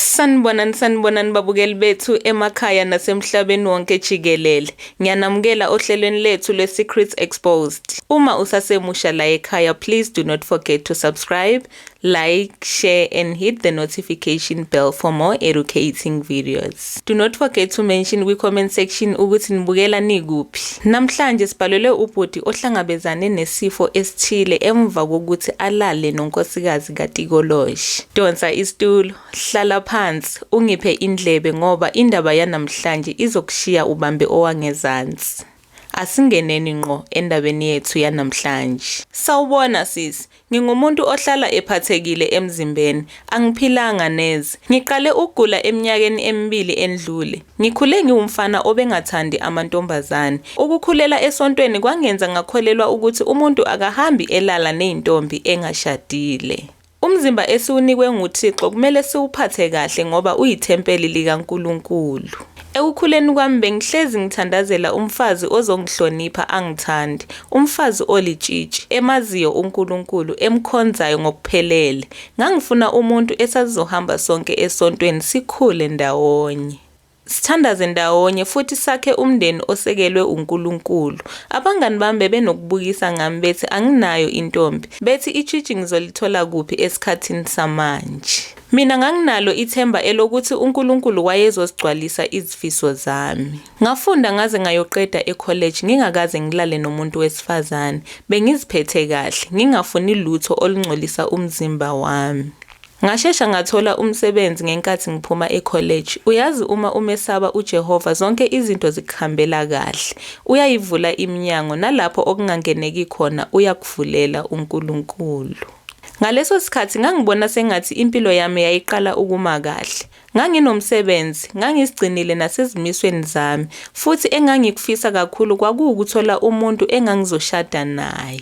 Sanibonani sanibonani babukeli bethu emakhaya nasemhlabeni wonke jikelele. Ngiyanamukela ohlelweni lethu lwe-Secrets Exposed. Uma usasemusha la ekhaya, please do not forget to subscribe, like, share and hit the notification bell for more educating videos. Do not forget to mention kwi-comment section ukuthi nibukela nikuphi. Namhlanje sibhalelwe ubhuti ohlangabezane nesifo esithile emva kokuthi alale nonkosikazi kaTikoloshi. Donsa isitulo, hlala phansi, ungiphe indlebe ngoba indaba yanamhlanje izokushiya ubambe owangezansi. Asingeneni ngqo endabeni yethu yanamhlanje. Sawubona sisi, ngingumuntu ohlala ephathekile emzimbeni, angiphilanga neze. Ngiqale ukugula eminyakeni emibili endlule. Ngikhule ngiwumfana obengathandi amantombazane. Ukukhulela esontweni kwangenza ngakholelwa ukuthi umuntu akahambi elala nezintombi engashadile. Umzimba esiwunikwe nguThixo kumele siwuphathe kahle ngoba uyithempeli likaNkulunkulu. Ekukhuleni kwami bengihlezi ngithandazela umfazi ozongihlonipha angithande, umfazi olitshitshi, emaziyo uNkulunkulu, emkhonzayo ngokuphelele. Ngangifuna umuntu esasizohamba sonke esontweni sikhule ndawonye. Sithandaze ndawonye futhi sakhe umndeni osekelwe uNkulunkulu. Abangani bami bebenokubukisa ngami bethi anginayo intombi, bethi itshitshi ngizolithola kuphi esikhathini samanje. Mina nganginalo ithemba elokuthi uNkulunkulu wayezosigcwalisa izifiso zami. Ngafunda ngaze ngayoqeda ekholeji ngingakaze ngilale nomuntu wesifazane. Bengiziphethe kahle, ngingafuni lutho olungcolisa umzimba wami. Ngashesha ngathola umsebenzi ngenkathi ngiphuma ekholeji. Uyazi uma umesaba uJehova zonke izinto zikuhambela kahle. Uyayivula iminyango nalapho okungangeneki khona uyakuvulela uNkulunkulu. Ngaleso sikhathi ngangibona sengathi impilo yami yayiqala ukuma kahle. Nganginomsebenzi, ngangizigcinile nasezimisweni zami, futhi engangikufisa kakhulu kwakuwukuthola umuntu engangizoshada naye.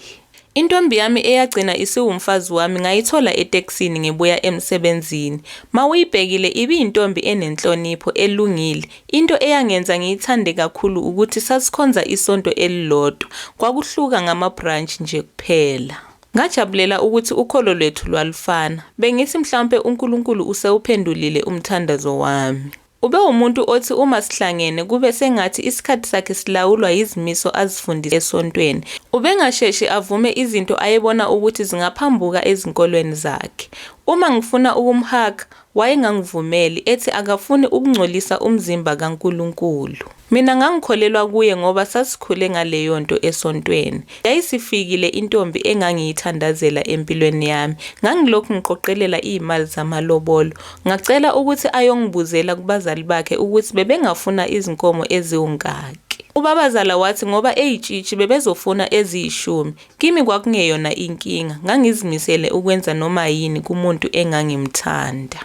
Intombi yami eyagcina isiwumfazi wami ngayithola etekisini ngibuya emsebenzini. Mawuyibhekile ibiyintombi enenhlonipho, elungile. Into eyangenza ngiyithande kakhulu ukuthi sasikhonza isonto elilodwa, kwakuhluka ngama-branch nje kuphela. Ngajabulela ukuthi ukholo lwethu lwalufana. Bengithi mhlawumpe uNkulunkulu usewuphendulile umthandazo wami. Ubewumuntu othi uma sihlangene kube sengathi isikhathi sakhe silawulwa yizimiso azifundise esontweni. Ubengasheshi avume izinto ayebona ukuthi zingaphambuka ezinkolweni zakhe. Uma ngifuna ukumhaga, Wayengangivumeli, ethi akafuni ukungcolisa umzimba kaNkulunkulu. Mina ngangikholelwa kuye ngoba sasikhule ngaleyonto esontweni. Yayisifikile intombi engangiyithandazela empilweni yami. Ngangilokhu ngiqoqelela izimali zamalobolo. Ngacela ukuthi ayongibuzela kubazali bakhe ukuthi bebengafuna izinkomo eziwungaki. Ubabazala wathi ngoba eyitshitshi bebezofuna eziyishumi. Kimi kwakungeyona inkinga, ngangizimisele ukwenza noma yini kumuntu engangimthanda.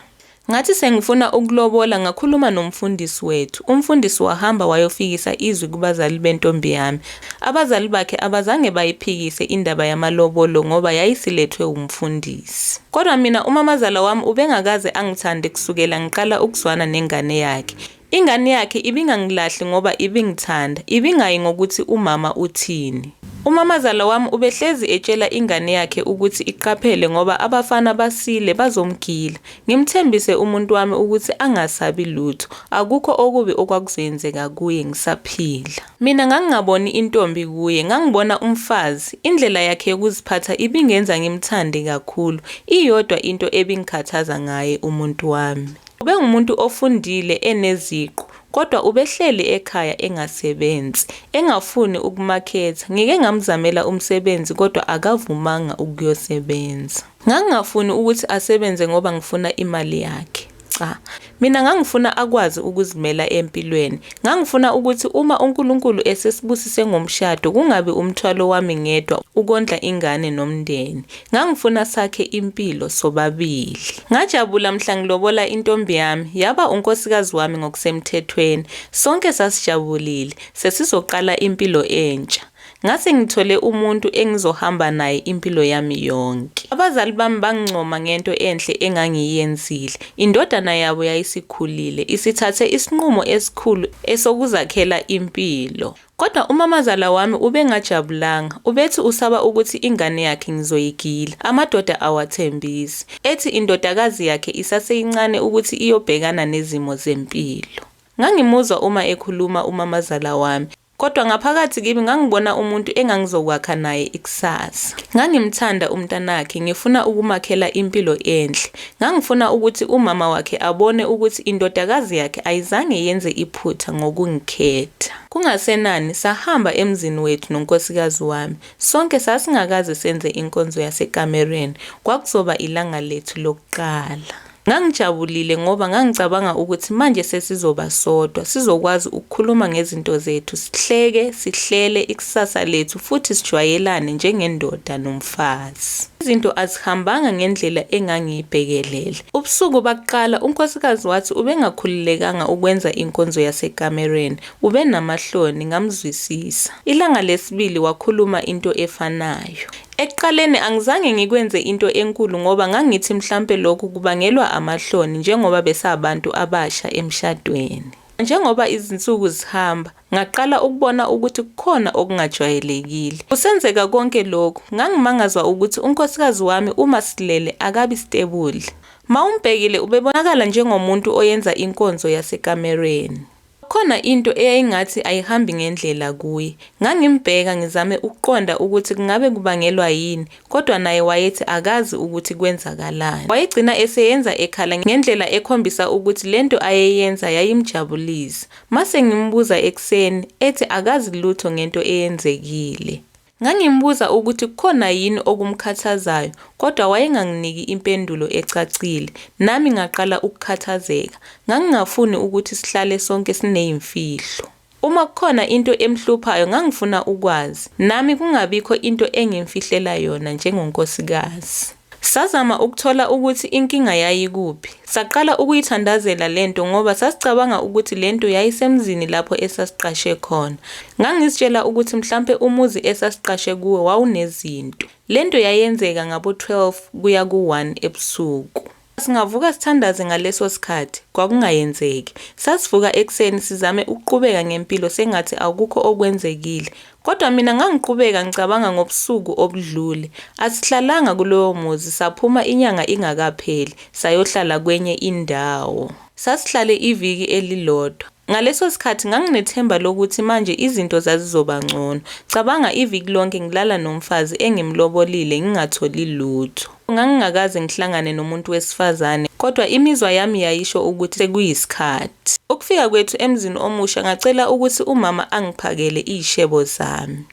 Ngathi sengifuna ukulobola ngakhuluma nomfundisi wethu. Umfundisi wahamba wayofikisa izwi kubazali bentombi yami. Abazali bakhe abazange bayiphikise indaba yamalobolo ngoba yayisilethwe wumfundisi. Kodwa mina umamazala wami ubengakaze angithande kusukela ngiqala ukuzwana nengane yakhe. Ingane yakhe ibingangilahli ngoba ibingithanda, ibingayi ngokuthi umama uthini. Umamazala wami ubehlezi etshela ingane yakhe ukuthi iqaphele ngoba abafana basile bazomgila. Ngimthembise umuntu wami ukuthi angasabi lutho, akukho okubi okwakuzoyenzeka kuye ngisaphila. Mina ngangingaboni intombi kuye, ngangibona umfazi. Indlela yakhe yokuziphatha ibingenza ngimthande kakhulu, iyodwa into ebingikhathaza ngaye umuntu wami. Ubengumuntu ofundile eneziqu kodwa ubehleli ekhaya engasebenzi, engafuni ukumaketha. Ngike ngamzamela umsebenzi kodwa akavumanga ukuyosebenza. Ngangingafuni ukuthi asebenze ngoba ngifuna imali yakhe. Cha. Mina ngangifuna akwazi ukuzimela empilweni. Ngangifuna ukuthi uma uNkulunkulu esesibusise ngomshado kungabi umthwalo wami ngedwa ukondla ingane nomndeni. Ngangifuna sakhe impilo sobabili. Ngajabula mhla ngilobola intombi yami yaba unkosikazi wami ngokusemthethweni. Sonke sasijabulile, sesizoqala impilo entsha. Ngase ngithole umuntu engizohamba naye impilo yami yonke. Abazali bami bangincoma ngento enhle engangiyenzile. Indodana yabo yayisikhulile, isithathe isinqumo esikhulu esokuzakhela impilo. Kodwa umamazala wami ubengajabulanga, ubethi usaba ukuthi ingane yakhe ngizoyigila. Amadoda awathembisi, ethi indodakazi yakhe isaseyincane ukuthi iyobhekana nezimo zempilo. Ngangimuzwa uma ekhuluma umamazala wami, kodwa ngaphakathi kimi ngangibona umuntu engangizokwakha naye ikusasa. Ngangimthanda umntanakhe, ngifuna ukumakhela impilo enhle, Ngangifuna ukuthi umama wakhe abone ukuthi indodakazi yakhe ayizange yenze iphutha ngokungikhetha. Kungasenani, sahamba emzini wethu nonkosikazi wami. Sonke sasingakaze senze inkonzo yasekamereni, kwakuzoba ilanga lethu lokuqala. Ngangijabulile ngoba ngangicabanga ukuthi manje sesizoba sodwa, sizokwazi ukukhuluma ngezinto zethu, sihleke, sihlele ikusasa lethu futhi sijwayelane njengendoda nomfazi. Ethi, Izinto azihambanga ngendlela engangiyibhekelele. Ubusuku bakuqala, unkosikazi wathi ubengakhululekanga ukwenza inkonzo yasekamereni, ubenamahloni, ngamzwisisa. Ilanga lesibili wakhuluma into efanayo. Ekuqaleni angizange ngikwenze into enkulu ngoba ngangithi mhlampe lokhu kubangelwa amahloni njengoba besabantu abasha emshadweni. Njengoba izinsuku zihamba, Ngaqala ukubona ukuthi kukhona okungajwayelekile. Kusenzeka konke lokhu, ngangimangazwa ukuthi unkosikazi wami uma silele akabi stebuli. Mawumbhekile ubebonakala njengomuntu oyenza inkonzo yasekamereni. Kukhona into eyayingathi ayihambi ngendlela kuye. Ngangimbheka ngizame ukuqonda ukuthi kungabe kubangelwa yini, kodwa naye wayethi akazi ukuthi kwenzakalani. Wayegcina eseyenza ekhala ngendlela ekhombisa ukuthi lento ayeyenza yayimjabulisa. Mase ngimbuza ekuseni ethi akazi lutho ngento eyenzekile. Ngangimbuza ukuthi kukhona yini okumkhathazayo kodwa wayenganginiki impendulo ecacile, nami ngaqala ukukhathazeka. Ngangingafuni ukuthi sihlale sonke sineyimfihlo. Uma kukhona into emhluphayo ngangifuna ukwazi, nami kungabikho into engimfihlela yona njengonkosikazi. Sazama ukuthola ukuthi inkinga yayikuphi. Saqala ukuyithandazela le nto ngoba sasicabanga ukuthi le nto yayisemzini lapho esasiqashe khona. Ngangizitshela ukuthi mhlampe umuzi esasiqashe kuwo wawunezinto. Le nto yayenzeka ngabo-12 kuya ku-1 ebusuku. Singavuka sithandaze ngaleso sikhathi, kwakungayenzeki. Sasivuka ekuseni sizame ukuqubeka ngempilo sengathi akukho okwenzekile, Kodwa mina ngangiqhubeka ngicabanga ngobusuku obudlule. Asihlalanga kulowo muzi, saphuma inyanga ingakapheli, sayohlala kwenye indawo. Sasihlale iviki elilodwa. Ngaleso sikhathi nganginethemba lokuthi manje izinto zazizoba ngcono. Cabanga iviki lonke ngilala nomfazi engimlobolile ngingatholi lutho. Ngangingakaze ngihlangane nomuntu wesifazane, kodwa imizwa yami yayisho ukuthi sekuyisikhathi. Ukufika kwethu emzini omusha ngacela ukuthi umama angiphakele izishebo zami.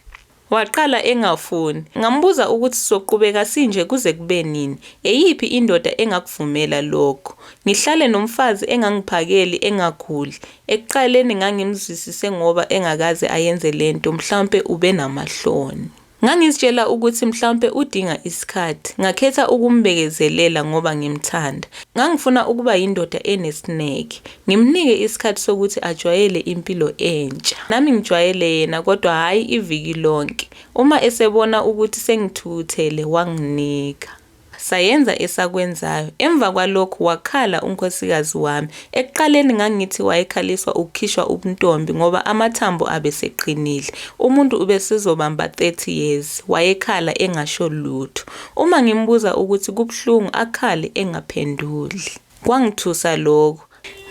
Waqala engafuni. Ngambuza ukuthi sizoqhubeka sinje kuze kube nini? Eyiphi indoda engakuvumela lokho? Ngihlale nomfazi engangiphakeli, engaguli? Ekuqaleni ngangimzwisise ngoba engakaze ayenze le nto, mhlawumpe ubenamahloni. Ngangizitshela ukuthi mhlawumpe udinga isikhathi. Ngakhetha ukumbekezelela ngoba ngimthanda. Ngangifuna ukuba yindoda enesineke. Ngimnike isikhathi sokuthi ajwayele impilo entsha. Nami ngijwayele yena kodwa hhayi iviki lonke. Uma esebona ukuthi sengithukuthele wanginika. Sayenza esakwenzayo. Emva kwalokho wakhala unkhosikazi wami. Ekuqaleni ngangithi wayekhaliswa ukukhishwa ubuntombi ngoba amathambo abeseqinile. Umuntu ubesezobamba 30 years. Wayekhala engasho lutho. Uma ngimbuza ukuthi kubuhlungu akhale engaphenduli. Kwangithusa lokhu.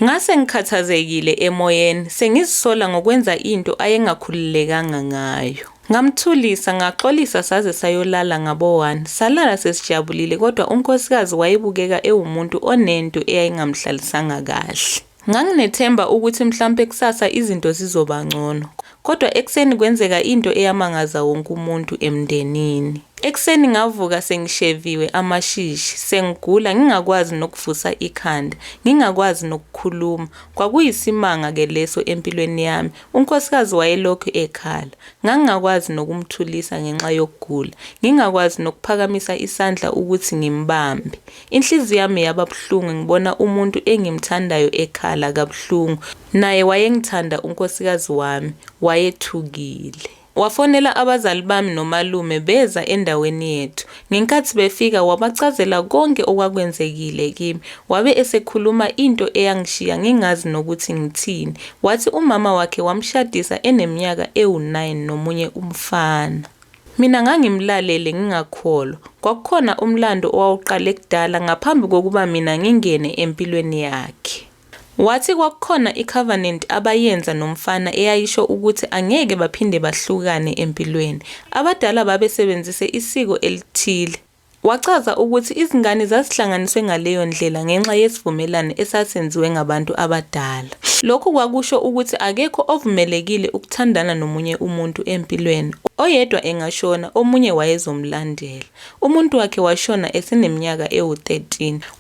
Ngase ngikhathazekile emoyeni, sengizisola ngokwenza into ayengakhululekanga ngayo. Ngamthulisa, ngaxolisa saze sayolala ngabo one. Salala sesijabulile kodwa unkosikazi wayebukeka ewumuntu onento eyayingamhlalisanga kahle. Nganginethemba ukuthi mhlawumpe kusasa izinto zizoba ngcono. Kodwa ekuseni kwenzeka into eyamangaza wonke umuntu emndenini. Ekuseni ngavuka sengisheviwe amashishi, sengigula ngingakwazi nokuvusa ikhanda, ngingakwazi nokukhuluma. Kwakuyisimanga-ke leso empilweni yami. Unkosikazi wayelokhu ekhala. Ngangingakwazi nokumthulisa ngenxa yokugula, ngingakwazi nokuphakamisa isandla ukuthi ngimbambe. Inhliziyo yami yaba buhlungu ngibona umuntu engimthandayo ekhala kabuhlungu. Naye wayengithanda unkosikazi wami, wayethukile. Wafonela abazali bami nomalume beza endaweni yethu. Ngenkathi befika wabachazela konke okwakwenzekile kimi. Wabe esekhuluma into eyangishiya ngingazi nokuthi ngithini. Wathi umama wakhe wamshadisa eneminyaka ewu-9 nomunye umfana. Mina ngangimlalele ngingakholwa. Kwakukhona umlando owawuqale kudala ngaphambi kokuba mina ngingene empilweni yakhe. Wathi kwakukhona icovenant abayenza nomfana eyayisho ukuthi angeke baphinde bahlukane empilweni. Abadala babesebenzise isiko elithile. Wachaza ukuthi izingane zazihlanganiswe ngaleyo ndlela ngenxa yesivumelwano esasenziwe ngabantu abadala. Lokhu kwakusho ukuthi akekho ovumelekile ukuthandana nomunye umuntu empilweni, oyedwa engashona omunye wayezomlandela. Umuntu wakhe washona eseneminyaka ewu-13.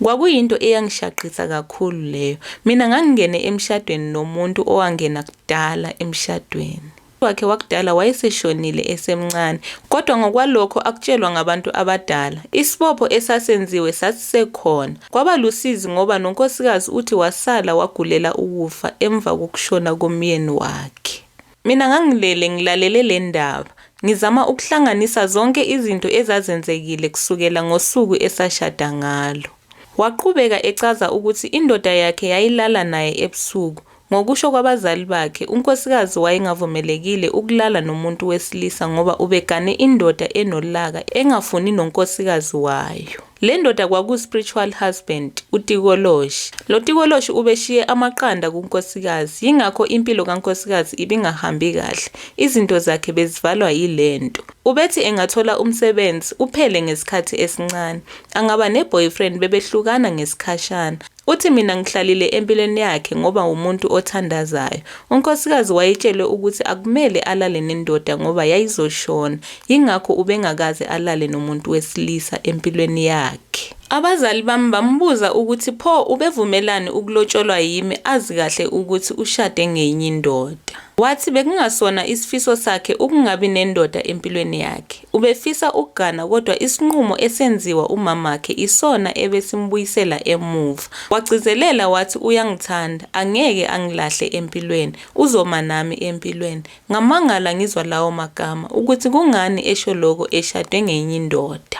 Kwakuyinto eyangishaqisa kakhulu leyo. Mina ngangingene emshadweni nomuntu owangena kudala emshadweni. wakhe wakudala wayeseshonile esemncane, kodwa ngokwalokho akutshelwa ngabantu abadala, isibopho esasenziwe sasisekhona. Kwaba lusizi ngoba nonkosikazi uthi wasala wagulela ukufa emva kokushona komyeni wakhe. Mina ngangilele ngilalele le ndaba, ngizama ukuhlanganisa zonke izinto ezazenzekile kusukela ngosuku esashada ngalo. Waqhubeka echaza ukuthi indoda yakhe yayilala naye ebusuku, Ngokusho kwabazali bakhe, unkosikazi wayengavumelekile ukulala nomuntu wesilisa ngoba ubegane indoda enolaka engafuni nonkosikazi wayo. Le ndoda kwaku-spiritual husband, uTikoloshi. Lo Tikoloshi ubeshiye amaqanda kunkosikazi, yingakho impilo kankosikazi ibingahambi kahle, izinto zakhe bezivalwa yile nto. Ubethi engathola umsebenzi, uphele ngesikhathi esincane. Angaba ne-boyfriend, bebehlukana ngesikhashana. Uthi mina ngihlalile empilweni yakhe ngoba wumuntu othandazayo. Unkosikazi wayetshelwe ukuthi akumele alale nendoda ngoba yayizoshona, yingakho ubengakaze alale nomuntu wesilisa empilweni yakhe. Abazali bami bambuza ukuthi pho ubevumelani ukulotsholwa yimi azi kahle ukuthi ushade ngenye indoda. Wathi bekungasona isifiso sakhe ukungabi nendoda empilweni yakhe. Ubefisa ukugana kodwa isinqumo esenziwa umamakhe isona ebesimbuyisela emuva. Wagcizelela wathi uyangithanda, angeke angilahle empilweni, uzoma nami empilweni. Ngamangala ngizwa lawo magama ukuthi kungani esho lokho eshade ngenye indoda.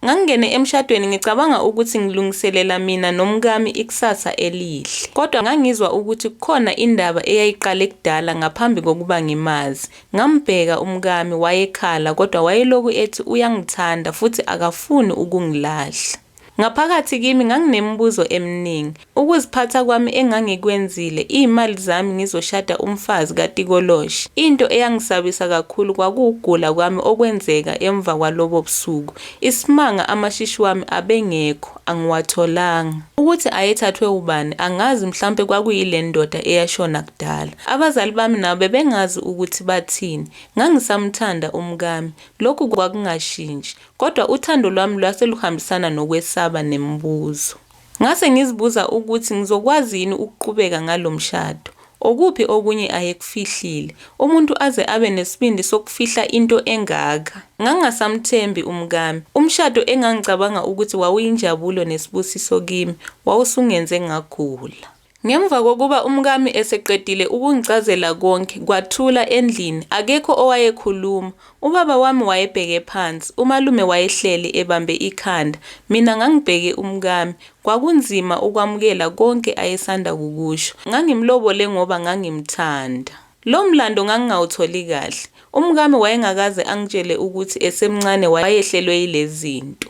Ngangingene emshadweni ngicabanga ukuthi ngilungiselela mina nomkami ikusasa elihle. Kodwa ngangizwa ukuthi kukhona indaba eyayiqale kudala ngaphambi kokuba ngimazi. Ngambheka umkami, wayekhala kodwa wayelokhu ethi uyangithanda futhi akafuni ukungilahla. Ngaphakathi kimi nganginemibuzo eminingi. Ukuziphatha kwami engangikwenzile, iy'mali zami ngizoshada umfazi katikoloshi. Into eyangisabisa kakhulu kwakuwukugula kwami okwenzeka emva kwalobo busuku. Isimanga amashishi wami abengekho, angiwatholanga. Ukuthi ayethathwe wubani angazi mhlawumpe kwakuyile ndoda eyashona kudala. Abazali bami nabo bebengazi ukuthi bathini. Ngangisamthanda umkami, lokhu kwakungashintshi. Kodwa uthando lwami lwase luhambisana nokwesaba nemibuzo. Ngase ngizibuza ukuthi ngizokwazi yini ukuqhubeka ngalo mshado. Okuphi okunye ayekufihlile? Umuntu aze abe nesibindi sokufihla into engaka? Ngangingasamthembi umkami. Umshado engangicabanga ukuthi wawuyinjabulo nesibusiso kimi, wawusungenze ngagula. Ngemva kokuba umkami eseqedile ukungichazela konke, kwathula endlini, akekho owayekhuluma. Ubaba wami wayebheke phansi, umalume wayehleli ebambe ikhanda, mina ngangibheke umkami. Kwakunzima ukwamukela konke ayesanda kukusho. Ngangimlobole ngoba ngangimthanda. Lo mlando ngangingawutholi kahle. Umkami wayengakaze angitshele ukuthi esemncane wayehlelwe yilezi zinto.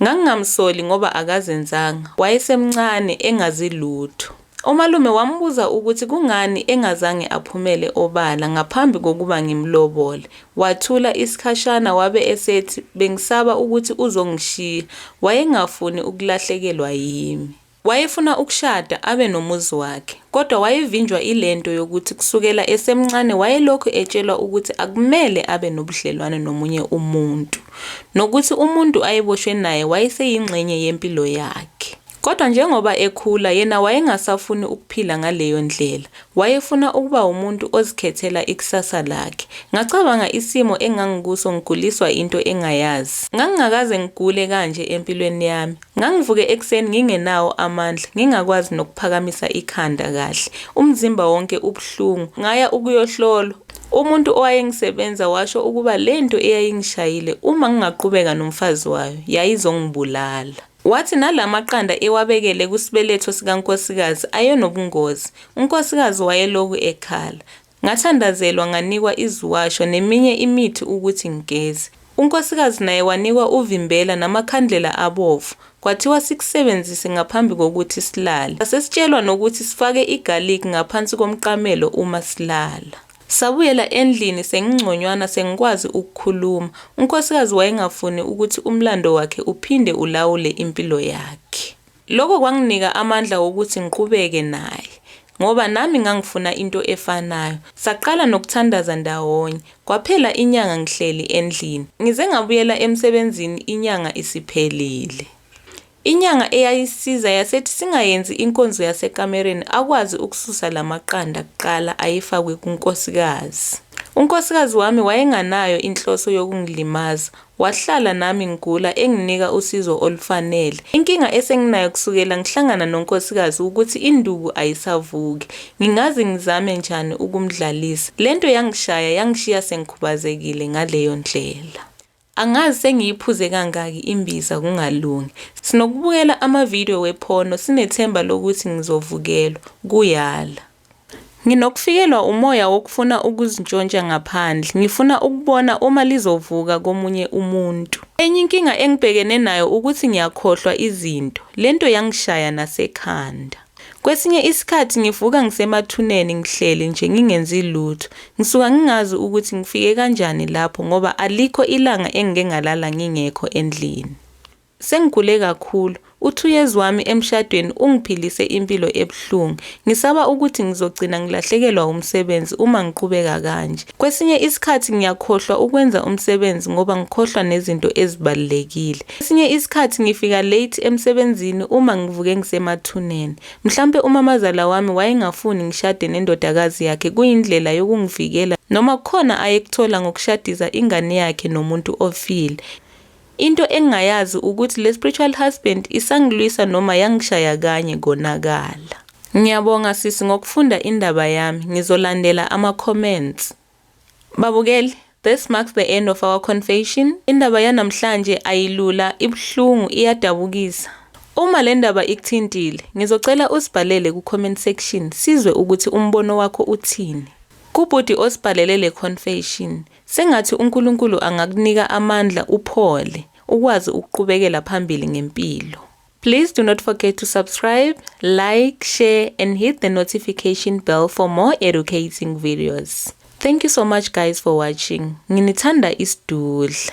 Ngangingamsoli ngoba akazenzanga, wayesemncane, engazi lutho. Umalume wambuza ukuthi kungani engazange aphumele obala ngaphambi kokuba ngimlobole. Wathula isikhashana wabe esethi bengisaba ukuthi uzongishiya, wayengafuni ukulahlekelwa yimi. Wayefuna ukushada abe nomuzi wakhe, kodwa wayevinjwa ile nto yokuthi kusukela esemncane wayelokhu etshelwa ukuthi akumele abe nobudlelwane nomunye umuntu, nokuthi umuntu ayeboshwe naye wayeseyingxenye yempilo yakhe. Kodwa njengoba ekhula, yena wayengasafuni ukuphila ngaleyo ndlela. Wayefuna ukuba umuntu ozikhethela ikusasa lakhe. Ngacabanga isimo engangikuso ngiguliswa into engayazi. Ngangingakaze ngigule kanje empilweni yami. Ngangivuke ekuseni ngingenawo amandla, ngingakwazi nokuphakamisa ikhanda kahle. Umzimba wonke ubuhlungu. Ngaya ukuyohlolwa. Umuntu owayengisebenza washo ukuba le nto eyayingishayile uma ngingaqhubeka nomfazi wayo yayizongibulala. Wathi nala maqanda ewabekele kusibeletho sikankosikazi ayenobungozi. Unkosikazi wayeloku ekhala. Ngathandazelwa nganikwa iziwasho neminye imithi ukuthi ngigeze. Unkosikazi naye wanikwa uvimbela namakhandlela abovu, kwathiwa sikusebenzise ngaphambi kokuthi silale. Sasesitshelwa nokuthi sifake igarlic ngaphansi komqamelo uma silala. Sabuyela endlini sengingconywana sengikwazi ukukhuluma. Unkosikazi wayengafuni ukuthi umlando wakhe uphinde ulawule impilo yakhe. Lokho kwanginika amandla wokuthi ngiqhubeke naye ngoba nami ngangifuna into efanayo. Saqala nokuthandaza ndawonye. Kwaphela inyanga ngihleli endlini. Ngize ngabuyela emsebenzini inyanga isiphelile. Inyanga eyayisiza yasethi singayenzi inkonzo yasekamereni akwazi ukususa la maqanda kuqala ayefakwe kunkosikazi. Unkosikazi wami wayenganayo inhloso yokungilimaza, Wahlala nami ngigula enginika usizo olufanele. Inkinga esenginayo kusukela ngihlangana nonkosikazi wukuthi induku ayisavuki. Ngingazi ngizame njani ukumdlalisa. Le nto yangishaya yangishiya sengikhubazekile ngaleyo ndlela. Angazi sengiyiphuze kangaki imbiza kungalungi. Sinokubukela ama-video we-porno sinethemba lokuthi ngizovukelwa, kuyala. Nginokufikelwa umoya wokufuna ukuzintshontsha ngaphandle. Ngifuna ukubona uma lizovuka komunye umuntu. Enye inkinga engibhekene nayo ukuthi ngiyakhohlwa izinto. Le nto yangishaya nasekhanda. Kwesinye isikhathi ngivuka ngisemathuneni ngihleli nje ngingenzi lutho. Ngisuka ngingazi ukuthi ngifike kanjani lapho ngoba alikho ilanga engike ngalala ngingekho endlini. Sengigule kakhulu. U-two years wami emshadweni ungiphilise impilo ebuhlungu. Ngisaba ukuthi ngizogcina ngilahlekelwa wumsebenzi uma ngiqhubeka kanje. Kwesinye isikhathi ngiyakhohlwa ukwenza umsebenzi ngoba ngikhohlwa nezinto ezibalulekile. Kwesinye isikhathi ngifika late emsebenzini uma ngivuke ngisemathuneni. Mhlampe umamazala wami wayengafuni ngishade nendodakazi yakhe kuyindlela yokungivikela noma kukhona ayekuthola ngokushadisa ingane yakhe nomuntu ofile. Into engingayazi ukuthi le spiritual husband isangilwisa noma yangishaya kanye konakala. Ngiyabonga sisi ngokufunda indaba yami, ngizolandela ama comments. Babukeli, this marks the end of our confession. Indaba yanamhlanje ayilula, ibuhlungu, iyadabukisa. Uma le ndaba ikuthintile, ngizocela usibhalele ku comment section sizwe ukuthi umbono wakho uthini. Kubhuti osibhalele le confession, Sengathi uNkulunkulu angakunika amandla uphole ukwazi ukuqubekela phambili ngempilo. Please do not forget to subscribe, like, share and hit the notification bell for more educating videos. Thank you so much guys for watching. Nginithanda isidudla.